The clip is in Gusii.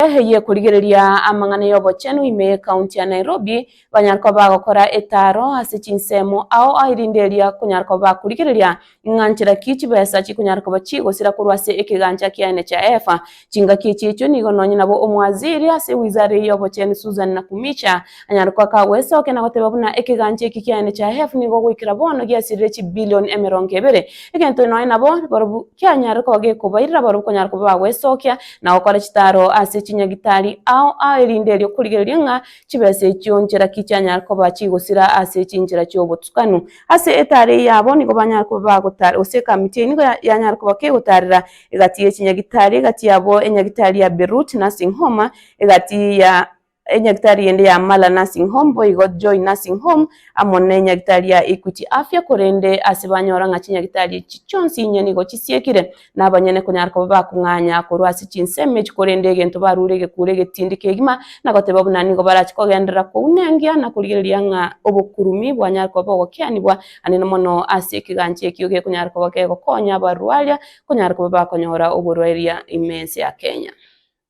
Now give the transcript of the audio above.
eye korigereria amang'ana y'obochenu ime y'ekaunti ya Nairobi banyare koba bagokora etaaro ase chinsemo ao erinde eria konyara koba bakorigereria ng'a nchera ki chibesa chikonyara koba chigosira korwa ase ekegancha kiane chiaefa. Chingaki echi echio nigo nonye nabo omwaziri ase ewizara eye y'obochenu Susan Nakumicha anyare koa kagoesokia na goteba buna ekegancha eke kiane chiaefa nigo goikera bono giasirire chibilion emerongo ebere egento nonye nabo barobwo kianyare koba gekobairera barobwo konyara koba bagoesokia na gokora chitaaro ase chinyagitari ao ao erinde erio korigereria ng'a chibesa echio nchera ki chianyare koba chigosira ase chinchera chi'obotukanwa. Ase etaaro eyio abo nigo banyare koba bagotara gose ekamiti eyio nigo yanyare koba kegotaarera egati ye chinyagitari, egati yabo enyagitari ya Beerut na ase Homa egati ya. Enyagitari ende ya Mala Nursing Home boigo Joy Nursing Home amo ne enyagitari ya Equity Afya korende ase banyora ng'a chinyagitari echi chionsi inye nigo chisiekire na abanyene konyara koba bakong'anya korwa ase chinsemo echi korende egento barure egekuro egetindi kegima na goteba buna nigo barache kogenderera kouna engiya na korigereria ng'a obokurumi bwanyare koba bogokianigwa anene mono ase ekegancho ekio gekonyara koba kegokonya abarwaria konyara koba bakonyora oborwaeria ime ense ya Kenya.